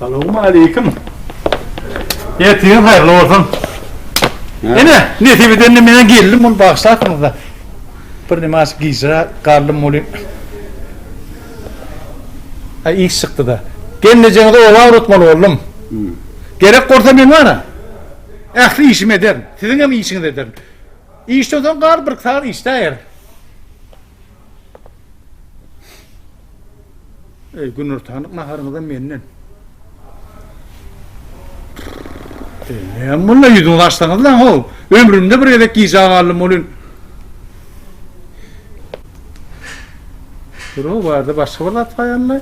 Salowmaleýkim. Ertiriň haýyrly bolsun. Ene, nesip edende meniň gelnim bolup bagyşlarsyňyz-da. Bir nemaç gijra galdym welin. Aý, iş çykdy-da. Gelnejeňizi oba ugratmaly boldum. Gerek bolsa men bara. Ähli işimi ederin. Siziňem işiňizi ederin. Işden soň gar birki sagat işläýerin. Eý, günortanlyk naharyňyzam menden. Näme mulla ýüzüňizi açsaňyz lan ho. Ömrümde bir gezek gijä galdym welin. Durun, bu ýerde başga bir zat bar ýaly.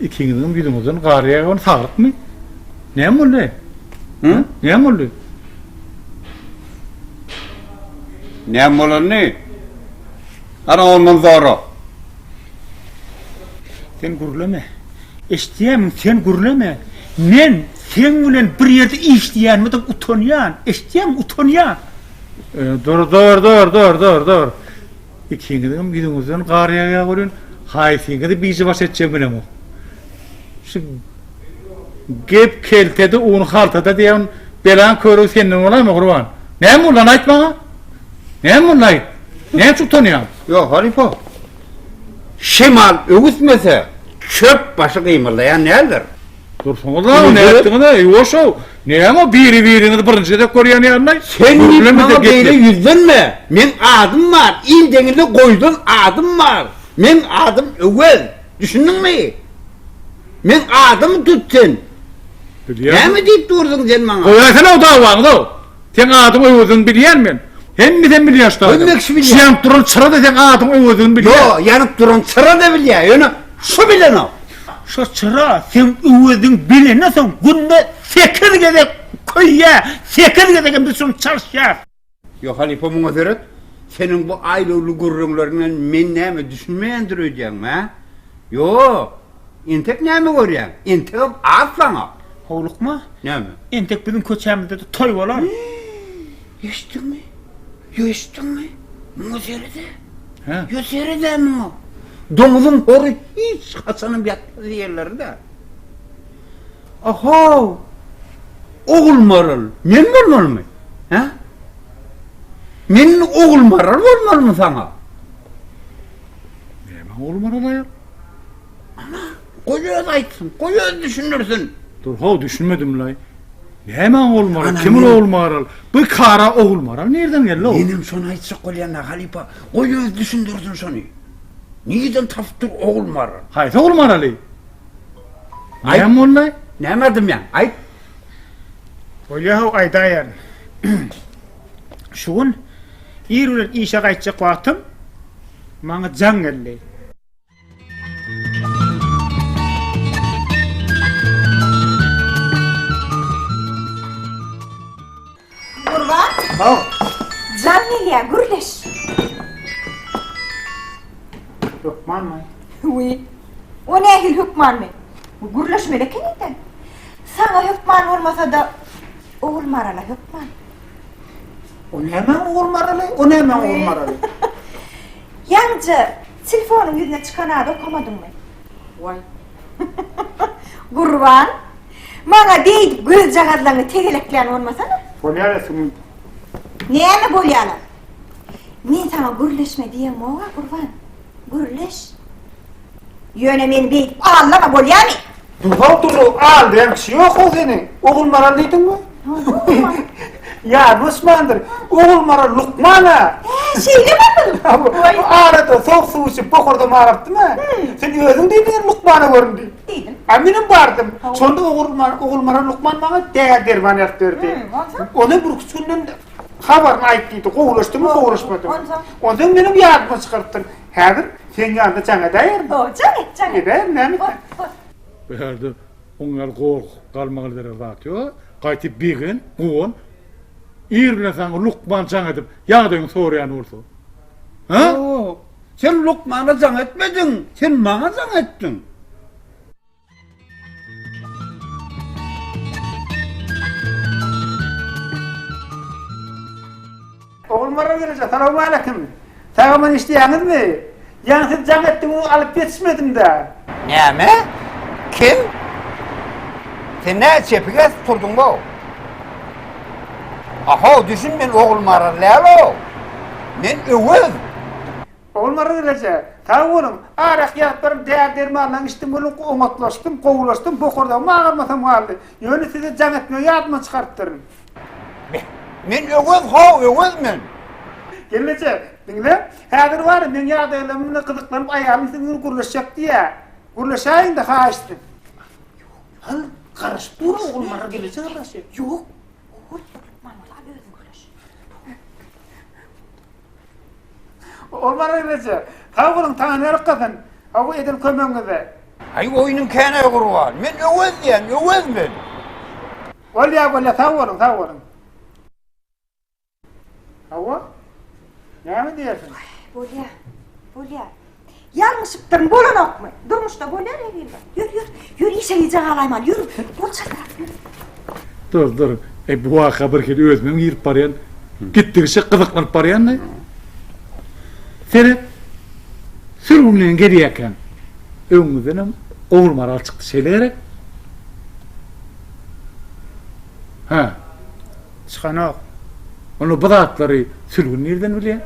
Ikiňiziň ýüzüňizden gar ýagan saglykmy? Näme boldy? Hä? Näme boldy? Näme bolany? Ana ondan zora. Sen gürleme. Eşitýärmiň, sen gürleme. Men seň bilen bir ýerde işleýänime utanýan. Eşitýärmiň, utanýan. Dur, dur, dur, dur, dur, dur. Ikiňizem ýüzüňizden gar ýagýar welin, haýsyňyzy biji baş etjek bilemok. ok. Şu gep keltede un haltada diýen belan körügi senden bolamy gurban? Näme ulan aýt maňa? Näme ulan aýt? Näme çuk tanýaň? Ýok, halifa. Şemal öwüsmese, çöp başy gymyldaýan näler? Dursuňyz-a, nätdiňiz-ä, ýuwaş-ow! Näme biri-biriňizi birinji gezek görýän ýalylaý? Sen diýip maňa beýle ýüzlenme! Meň adym bar, il deňinde goýlan adym bar! Meň adym Öwez! Düşündiňmi? Meň adymy tut sen! Näme diýip dursuň sen maňa? Goýaýsana-ow dawaňyzy-ow! Seň adyň öwezini bilýän men. Hemmesem bilýän şda adam. Hemmekşi bilýän. Şu ýanyp duran çyra-da seň adyň öwezini bilýän. Ýo, ýanyp duran çyra-da bilýän, ýöne şu bilenok. Şo çyra seň öweziň bilenden soň günde sekiz gezek köýýä, sekiz gezegem biz şony çalyşýas. Ýo, halypa muňa seret. Seniň bu aýlawly gürrüňleriňden men näme düşünmeýändir öýdýäňmi, hä? Ýo! Entek näme görýäň? Entegem az saňa. Howlukma. Näme? Entek biziň köçämizde-de toý bolar. Eşitdiňmi? Ýo eşitdiňmi? Muňa sere-de. Hä? Ýo sere-de muňa. Doňuzyň hory hiç haçanam ýatmaz diýerler-dä. Ahaw! Ogulmaral, men bolmalymy? Hä? Men ogulmaral bolmalymy saňa? Näme ogly Maral aýal? Ana, goý öz aýtsyn, goý öz düşündirsin. Dur, haw, düşünmedim-laý. Näme ogly Maral, kim ol ogly Maral? Bu kara ogly Maral nireden geldi-ow? Menem şony aýtjak bolýan-da, halypa, goý öz düşündirsin şony. Nireden tapyp dur ogly Maral? Haýsy ogly Maraly? Näme boldy-laý? Näme aýdymýaň, aýt. Bolýa-haw, aýdaýaryn. Şu gün Ir bilen işe gaýtjak wagtym maňa jaň geldi. Gurban. Haw. Jaň gelýär, gürleş. Hökmanmy? Wiý. O nähili hökmanmy? Bu gürleşmeli ekeni-de. Saňa hökman bolmasa-da, Ogulmarala hökman. O nämäň ogul maraly, o nämäň ogul maraly? Ýaňja telefonyň ýüzüne çykan ady okamadyňmy? Waý. Gurban, maňa beýdip gözjagazlaňy tegeleklän bolmasana. Bolýar-a sümük. Näme bolýar-a? Men saňa gürleşme diýeňmog-a, Gurban. Gürleş. Ýöne meni beýdip allama bolýamy? Durag durag al diýen kişi ýok-ow seni. Ogulmaral diýdiňmi? Ýaşmyşmandyr. Ogulmaral lukman-a. Hä, şeýlemi bu? Hawa, arada sowuk suw içip bokurda marypdym-a. Sen özüň diýdiň lukmana göründi. Diýdim. A menem bardym. Şonda Ogulmaral lukman maňa däri derman ýazyp berdi. Onam birküç günden habaryny aýt diýdi. Gowulaşdymy, gowulaşmadymy. Onsoň menem ýadyma çykarypdyr. Häzir seň ýanyňda jaň edäýerin. Hoo, jaň et, jaň et. Edäýerin, näme sen. Hot, hot. Bu ýerde oň ýaly gorkup galmaga berer zat ýok. Gaýtyp begen, guwan. Ir bilen saňa lukman jaň edip, ýagdaýyňy soraýan bolsa. Hä? Ýok. Sen lukmana jaň etmediň. Sen maňa jaň etdiň. Ogulmyrat Reje, salowmaleýkim! Sag-aman işleýäňizmi? Ýaňy siz jaň etdigiňizi alyp ýetişmedim-dä. Näme? Kim? Sen nädip çepik edip turduň-ow? A-how, düşün, men Ogulmyrat däl-ow. Men Öwez. Ogulmyrat Reje, sag boluň! Arak ýatypbirem, däri-dermanlaň içdim, welin oňatlaşdym, gowulaşdym, bokurdagym agyrmasam galdy. Ýöne size jaň etmegi ýadymdan çykarypdyryn. Beh, men Öwez, haw, Öwez men! Gelneje, diňle, häzir bar, meň ýagdaýlarym bilen gyzyklanyp aýalym siziň bilen gürleşjek diýýär. Gürleşäýiň-de, haýyşsyz. Ýok-la, garaşyp dur, Ogulmyrat Reje garaşýar. Ýok, goý, Ogulmyrat, özüň gürleş. Ol bar eýleje. Sag boluň, Taňry ýalkasyn, hawa, eden kömegiňize. Aý, oýnuň känä gurban. Men Öwez diýýän, Öwez men. Bolýar, bolýar, sag boluň, sag boluň. Hawa, näme diýersiň? Bolýar, bolýar. Ýalňyşypdyryn, bolanokmy? Durmuşda bolýar erbetler. Ýör, ýör, ýör, işe gijä galaýmaly, ýör, bol çakyrak, ýör. Dur, dur, eý, bu waka birhili özümem girip barýan, gitdigiçe gyzyklanyp barýan-da. Seret, sürgünleýin gelýäkäm, öňümizdenem Ogulmaral çykdy, şeýle gerek? Hä? Çykanok. Onda bu zatlary sürgün nireden bilýär?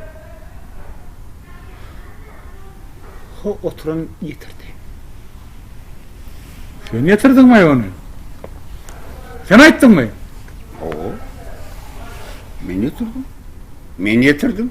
Ho, oturan getirdi. Sen getirdiňmi ony? Sen aýtdyňmy? Hawa. Men getirdim. Men getirdim.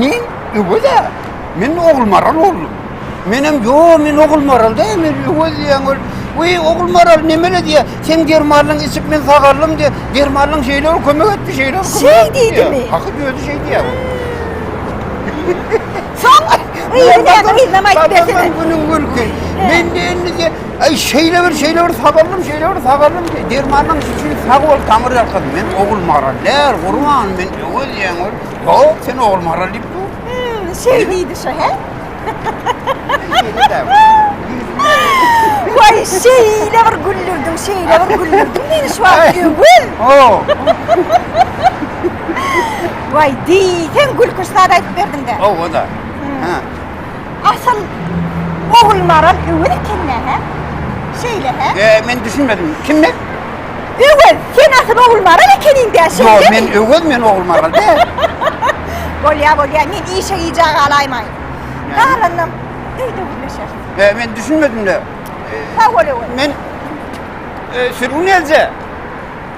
Men öwez-ä. Men Ogulmaral boldum. Menem ýo, men Ogulmaral däl, men öwez diýýän ol. Weý, Ogulmaral nemele diýýär. Seň dermanyňy içip men sagaldym diýýär. Dermanyň şeýle bir kömek etdi, şeýle bir kömek etdi diýýär. Şeý diýdimi? Hakyt özi şeý diýýär. Soň yzyna aýtmasene. Günüň gülkün. Mende indi diýýär. Aý şeýle bir şeýle bir sagaldym şeýle bir sagaldym diýip dermanyň üçin sag bol tamyr ýalkadym men ogul maral näl gurban men öwez ýeň ol ýok sen ogul maral diýip dur. Hmm, şeý diýdi şo he. Waý şeýle bir güldürdiň şeýle bir güldürdiň meni şu wagt öwez. Oh. Waý diýseň gülküş zat aýdyp berdiň dä. Owa da. Hmm. Ha. Asyl Ogulmaral Öwez ekeni hä? Şeýle hä? E, men düşünmedim. Kim men? Öwez, sen asyl Ogulmaral ekeniň dä, şeýlemi? Ýok, men Öwez, men Ogulmaral däl. Bolýar, bolýar, men işe gijä galaýmaýyn. Galanynam öýde gürleşeris. E, men düşünmedim-le. Sag bol, Öwez. Men e, sürgün eljä.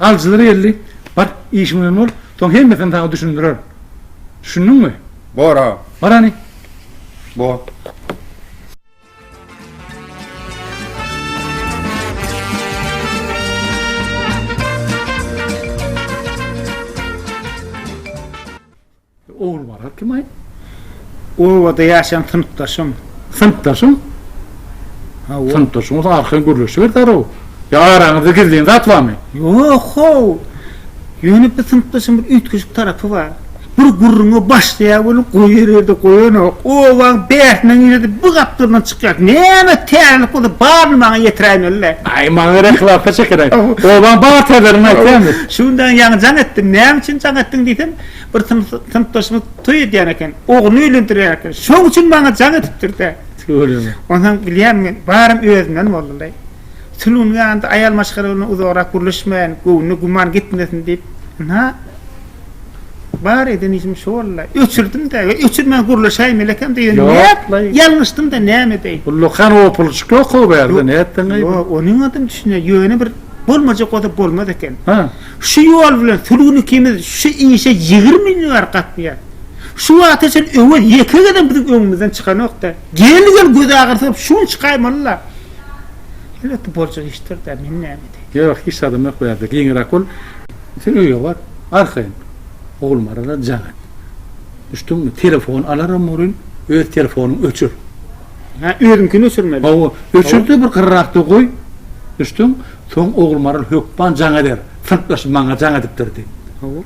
Alyjylar geldi, Bar, işiň bilen bol, soň hemmesini saňa düşündirerin. Düşündiňmi? Bor, aga. Bar hany. Bor. Ogulbala kim aý? Obada ýaşan synpdaşym. Synpdaşyň? Hawa. Synpdaşyň bolsa arkaýyn gürleşiber zaraw. Ýa araňyzda gizlin zat barmy? Ýok, how. Ýöne bir synpdaşyň bir üýtgeşik tarapy bar. Bir gürrüňe başlaýar welin goýar ýerde goýanok. Obaň bärsinden girdi, bu gapdaldan çykýar. Näme täzelik bolsa baryny maňa ýetiräýmeli-le. Aý, maňa gerek lapa çeker aý. Obaň barterlerini aýtýarmy? Şu gün daň ýaňy jaň etdim. Näme üçin jaň etdiň diýsem, Bir synpdaşymyz toý edýän eken, ogluny öýlendirýän eken. Şoň üçin maňa jaň edipdir-dä. Öýleme. Onsoň bilýän men, barym özümden boldum-daý. Sülgün ýanynda aýal maşgala bilen uzagrak gürleşmäýin, göwnüne güman gitmesin diýip, ynha, bar eden işim şu boldy-la. Öçürdim-dä we öçürmän gürleşäýmeli ekem-de, ýöne nätlaý? Ýalňyşdym-da, näme edeýin? Bu lukan opuluşyk ýok-ow bärde, nätdiň-aý? Ýok, onuňam düşnýär, ýöne bir bolmajak bolsa bolmaz eken. Hä. Şu ýol bilen şu gün ikimiz şu işe ýigrimi ýyl bäri gatnaýarys. Şu wagta çenli Öwez ýeke gezek biziň öňümizden çykanok-da. Geldi-geldi gözagyrsy bolup şu gün çykaýmaly-la. Elbetde boljak işdir-dä, men näme edeýin. Ýok, hiç zadam ýok bu ýerde. Giňräk bol. Sen öýe bar, arkaýyn. Oglum arada jaň et. Düşdüňmi? Telefon alaram welin, öz telefonyňy öçür. Hä, özüňkini öçürmeli? Hawa, öçür-de bir gyrrakda goý. Düşdüňmi? Soň Ogulmaral hökman jaň eder, synpdaşym maňa jaň edipdir diýip. Hawa.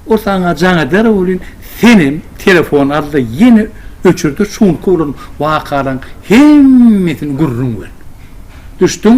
Ol saňa jaň eder welin, senem telefon al-da ýene öçür-de şunky bolan wakalaryň hemmesini gürrüň ber. Düşdüň?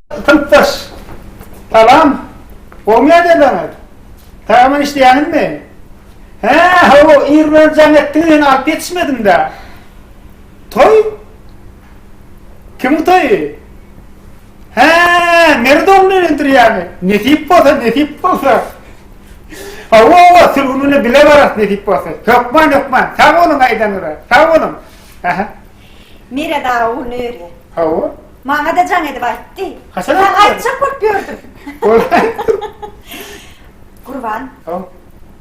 Synpdaş, Salam! Gowy näderleň aýt? Tagaman işleýäňizmi? Hä, hawa, ir bilen jaň etdim ýöne alyp ýetişmedim-dä. Toý? Kimiň toýy? Hä, Merwde ogluny öýlendirýärmi? Nesip bolsa, nesip bolsa. Hawa, hawa, sülgün güni bile bararys nesip bolsa. Hökman, hökman. Sag boluň aýdanyza. Sag boluň. Ähä. Mire daga ol nöre. Hawa. Maňada jaň edip aýtdy. Haçan aýtdy? Maňa aýtjak bolup ýördüm. Boldy aýtdyr. Gurban. Haw.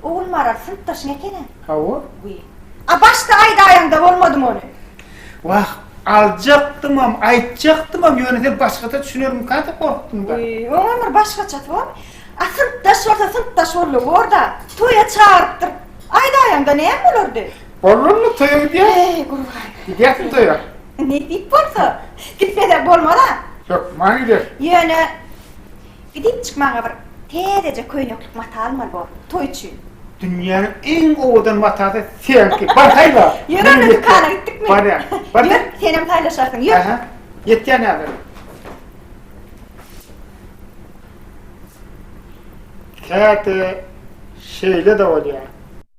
Ogulmaral synpdaşyň ekeni. Hawa. Wiý. A başda aýdaýaňda bolmadymy ony? Wah, aljakdymam, aýtjakdymam, ýöne sen başgaça düşünermikä diýip gorkdum-da. Wiý, oňem bir başgaçasy bormy? A synpdaş bolsa synpdaş boldy, bor-da. Toýa çagyrypdyr. Aýdaýaňda näme bolardy? Bolmazmy toýa gidýäs. Eý gurban. Gidýäsmi toýa? Nesip bolsa. Gitmesem bolmaz-a. Ýok, maňa gider. Ýöne gidip çyk maňa bir täzeje köýneklik mata almaly bor, toý üçin. Dünýäniň iň owadan matasy seňki. Bar saýla. Ýör onda dükana gitdikmi? Barýan. Bar ýör, senem saýlaşarsyň. Ýör. Aha. Ýetýän häzir. Käte şeýle-de bolýar.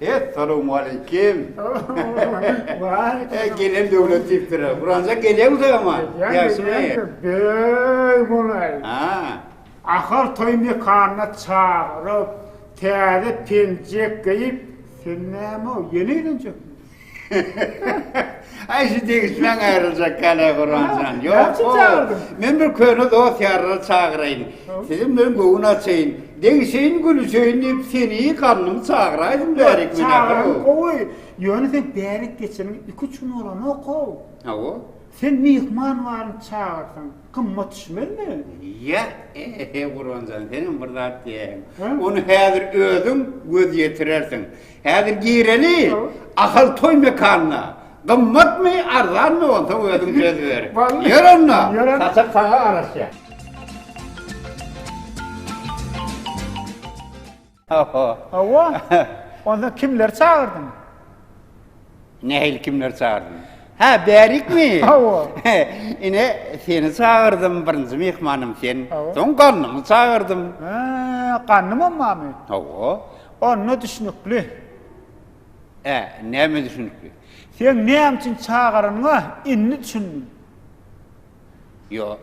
Essalowmaleýkim. Eý gelen döwlet diýipdir. Buranjak gelýäňiz-ä emma. Ýagşymy? Beý golaý. Ahal toý mekanyna çagyryp, täze penjek geýip, sen näme-ow, ýene elenjekmi? Aý şu degişmäň aýryljak ýaly Guramjan. Ýok o. Men bir köne dost ýarlary çagyraýyn. Siziň bilen göwün açaýyn. Degişeýin gülüşeýin diýip seni ganymy çagyraýdym bärik meni. Çagyraň gowy. Ýöne sen bärik geçeniň iki üç gün bolanok-ow. Hawa. Sen myhman baryny çagyrsaň gymmat düşmezmi? Ýa ehe Guramjan senem bir zat diýäýiň. Ony häzir özüň göz ýetirersiň. Häzir gireli Ahal toý mekanyna. Gymmatmy, arzanmy onsoň özüň söz ber. Ýör onda. Saçak saňa garaşýa. Hawa. Hawa. Onda kimleri çagyrdyň? Nähili kimleri çagyrdym? Hä, bärikmi? Hawa. Ine, seni çagyrdym, birinji myhmanym sen. Soň Gannymy çagyrdym. Hä, Gannymam barmy? Hawa. Onda düşnükli. Ä, näme düşnükli? Sen näme üçin çagyranyňa indi düşündim. Ýo,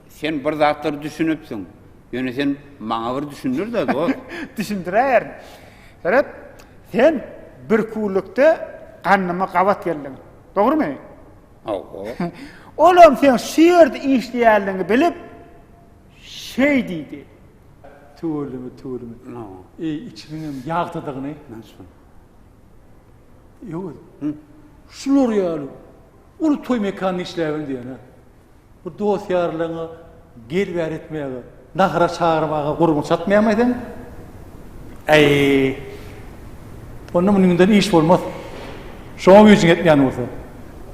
sen bir zatlar düşünipsiň. Ýöne sen maňa bir düşündir-de, dost. Düşündiräýerin. Seret, sen bir kunlukda gandyma gabat geldiň. Dogrumy? Hawa. Olam seň şu ýerde işleýänligiňi bilip, şeý diýdi. Tüweleme, tüweleme. Eý, içiniňem ýagtydygyny. Näçe? Ýowuz. Şular ýaly uly toý mekanda işläbem diýýän-ä. Bu dost-ýarlaryňa gel-bäri etmäge, nahara çagyrmaga gurbuň çatmaýarmy seň? Äý. Onda munyňdan iş bolmaz. Şoňa güýjüň ýetmeýän bolsa.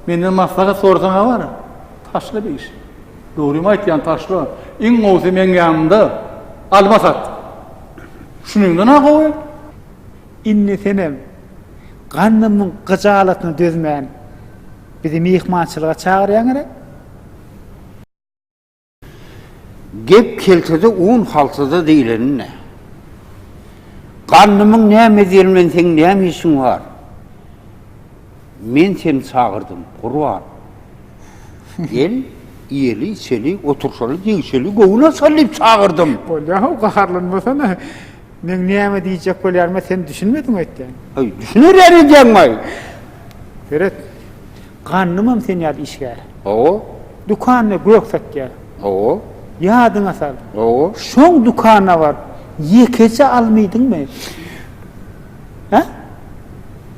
Menden maslahat sorasaň-a bar, taşla bir iş. Dogrymy aýtýan taşla iň gowusy meň ýanymda alma sat. Şunuňdan ha gowy. Indi senem gandymyň gyjalatyna dözmän bizi myhmançylyga çagyrýaň gerek? Gep keltede un haltada diýleninde. Gandymyň näme edýän bilen seň näme işiň bar? Men seni çagyrdym, Gurban. Gel, iýeli-içeli, oturşaly, degişeli, göwün açaly diýip çagyrdym. Bolýa-how, gaharlanmasana. Meň näme diýjek bolýaryma sen düşünmediň öýtýän. Heý, düşünerýän edýäňmi-aý? Seret, gandymam sen ýaly işgär. Hawa. Dükanda gök satýar. Hawa. Ýadyňa sal. Hawa. Şoň dükana baryp, ýekeje almydyňmy? Hä?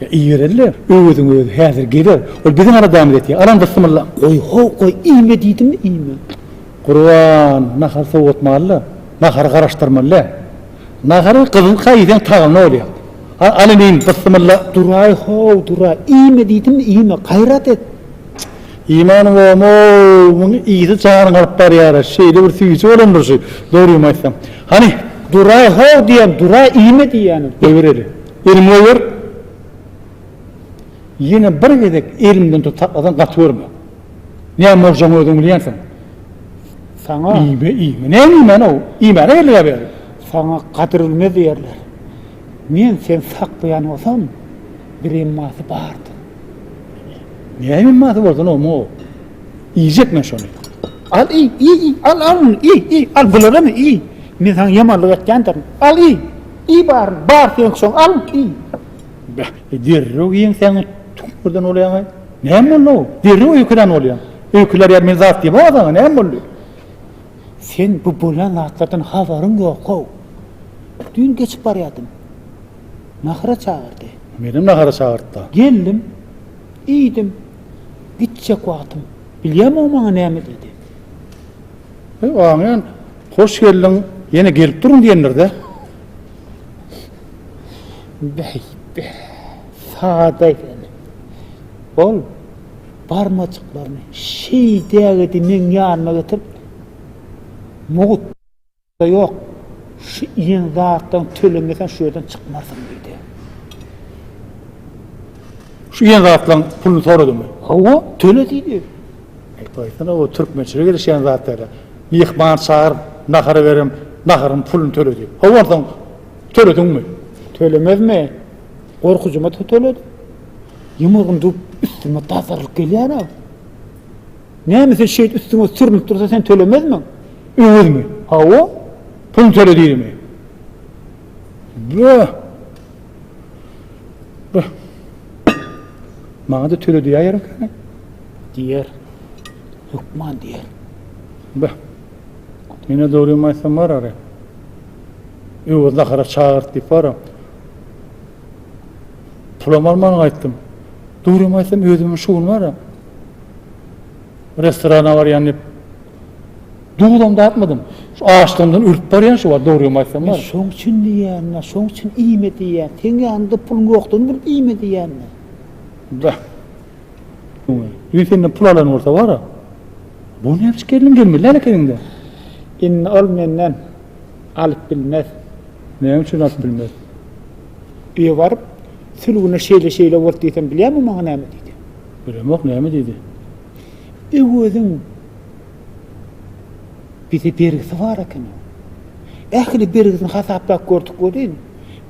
Ibereliler. Öweziň özi häzir geler. Ol biziň aladamyz etýär. Alan bysymylla. Goý, how, goý, iýme diýdimmi, iýme. Gurban, nahar sowatmaly-da. Nahary garaşdyrmaly-dä. Nahary gyzyl kaý iýseň tagamly bolýar. Al, alyn iýin, bysymylla. Duraý, how, duraý, iýme diýdimmi, iýme. Gaýrat et. Iýmän goýamok. Muň ysy janyňy alyp barýar-a. Şeýle bir süýji bolandyr şu. Dogrymy aýtsam. Hany, duraý, how diýýän, duraý, iýme diýýänim. Goýbereli. Elimi goýber! Ýene bir gezek elimden tutup saklasaň gaty görme. Näme boljagyny özüň bilýänsiň. Saňa. Iýme, iýme. Näme iýmän-ow? Iýmäne geldik-ä bäri. Saňa gadyr bilmez diýerler. Men seni saklaýan bolsam, bir emmasy bardyr. Näme emmasy bolsun omuň-ow? Iýjek men şony. Al iý, iý, iý, al, al, iý, iý, al, bularamy iý. Men saňa ýamanlyk etýändirin. Al, iý! Iý baryny, bar seňki şoň, al, iý! Beh, derrew ýeňsäňi tüňňürden bolýaň-aý. Näme boldy-ow? Derrew öýkelän bolýaň. Öýkelär ýaly men zat diýibem azaňa, näme boldy? Sen bu bolýan zatlardan habaryň ýok-ow. Düýn geçip barýardym. Nahara çagyrdy. Menem nahara çagyrtdy. Geldim. Iýdim. Gitjek wagtym. Bilýämiň maňa näme diýdi? Amen. Hoş geldiň. Ýene gelip durun diýendir-dä. Bäý, bä. Sada ekeni. Ol barmajyklaryny şeý dägedi meň ýanyma getirip, Mugut, ýok, şu iýen zatlaryňy tölemeseň şu ýerden çykmarsyň diýdi. Şu iýen zatlaryň puluny soradymy? Hawa, töle diýdi. Aýtsaň o türkmençilige gelişýän zat dälä. Myhman çagyryp nahar berem, naharyň pulyny töle diýip. Hawa onsoň tölediňmi? Tölemezmi? Gorkujyma töledim. Ýumrugyny düwüp üstüme dazarylyp gelýär-ä. Näme sen şeýdip üstüňe sürnüp dursa sen tölemezmiň? Öwezmi? Hawa. Pulyny töle diýdimi? Böh! Bıh. Maňa da töle diýýär ekeni. Diýer. Hökman diýer. Bıh. Ýene dogrymy aýtsam bar ara. Öwez nahara çagyrt diýip bar. Pulam alman gaýtdym. Dogrymy aýtsam özümiň şu gün bar. Restorana barýan diýip Duzam datmadym. Şu açlygymdan ölüp barýan şu wagt dogrymy aýtsam bar. Men şoň üçin diýýän-dä, şoň üçin iýme diýýän. Seň ýanyňda puluň ýokdugyny bilip iýme diýýän-dä. Bäh. Düýn senden pul alan bolsa bar-a. Bu näbiş gelniň gelmedi näme etegiňde. Indi ol menden alyp bilmez. Näme üçin alyp bilmez? Öýe baryp, sülgüne şeýle-şeýle bolup diýsem bilýäňmi maňa näme diýdi? Bilemok näme diýdi. Öwezim. Bize bergisi bar ekeni. Ähli bergisini hasaplap gördük welin,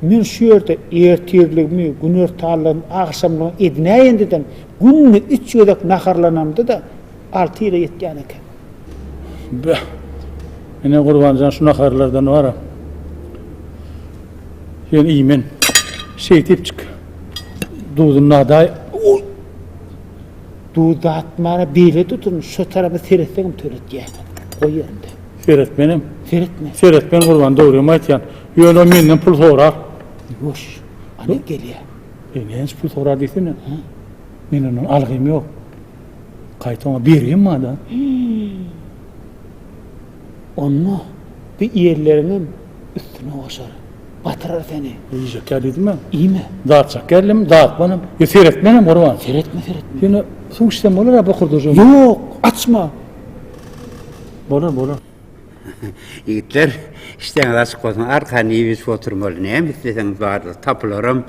men şu ýerde ertirligimi, günortanlygymy, agşamlygymy edinäýendedem, günde üç gezek naharlanamda-da, alty ýyla ýetýän eken. Beh! Ine, Gurban jan, şu naharlardan bar-a, sen iý, men şeýdipjik duzuny nadaýyn. Oý! Duz datmana beýle dutuny şo tarapa seretseňem töletýäňä. Goý ýerinde. Seretmenem. Seretme. Seretmen Gurban dogrymy aýtýan. Ýöne o menden pul sorar. Ýuwaş. Alyp gelýä. E näç pul sorar diýsene. Men ondan algym ýok. Gaýta oňa bergim bar-da. Onda bi ýerleriňem üstüne goşar, batyrar seni. Iýjek ýa diýdimä? Iýme. Dartjak ýerlem, dartmanam. Ýa seretmenem, Gurban? Seretme, seretme. Ýöne suw içsem bolar-a bokurdajygym? Ýok, açma. Bolar, bolar. Ýigitler, işdäňiz açyk bolsun, arkany iýip-içip oturmaly. Näme isleseňiz bardyr, tapylaram.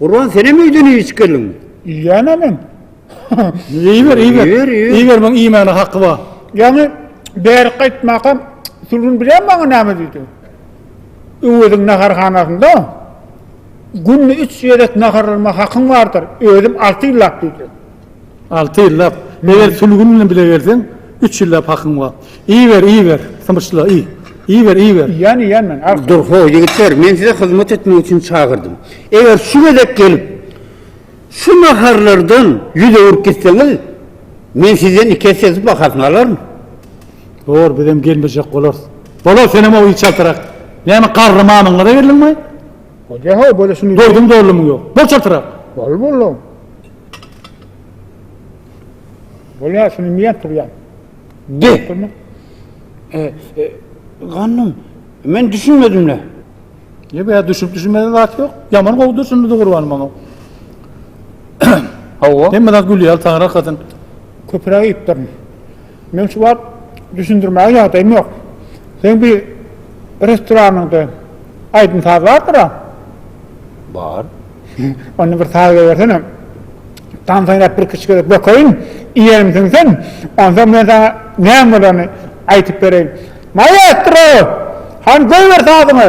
Gurban senem öýden üýşüp geldiňmi? Iýýän-ä men. Iýiber, iýiber. Iýiber, iýiber. Iýiber, muň iýmäne haky bar. Ýaňy bärik gaýtmakam Sülgün bilýärmi maňa näme diýdi? Öweziň naharhanasynda günde üç gezek naharlanma hakyň bardyr, özüm alty ýyllap diýdi. Alty ýyllap. Eger sülgün bilen bile gelseň, üç ýyllap hakyň bar. Iýiber, iýiber, symyşla, iý. Iýiber, iýiber. Iýýän, iýýän men, arka. Dur, ho, ýigitler, men size hyzmat etmek üçin çagyrdym. Eger şu gezek gelip, şu naharlardan ýüz öwürip gitseňiz, men sizden iki esse bahasyny alaryn. Dur, bizem gelmejek bolarys. Bolar, senem ow içaltyrak. Näme, garry mamyňyza geldiňmi? Bolýa, ho, bolýa, şuny. Doýduň, doldumyň ýok. Bol çaltyrak. Bol, boldum. Bolýar, şuny iýýän turýan. De. E, e, gandym, men düşünmedimle. Ýe, bu düşünip düşünmeden zat ýok. Ýaman gowy düşündi gurban maňa. Hawa. Hemme zat gülýär, taňra hakasyn. Köpüräk iýipdirin. Meň şu wagt düşündirmäge ýagdaýym ýok. Seň bir restoranyňda aýdym-saz bardyr-a? Bar. Onda bir saz goýbersene. Tans oýnap bir kiçi gezek bökeýin, iýenim siňsin. Onsoň men saňa näme bolanyny aýdyp bereýin. Maestro! Hany goýber sazyňy!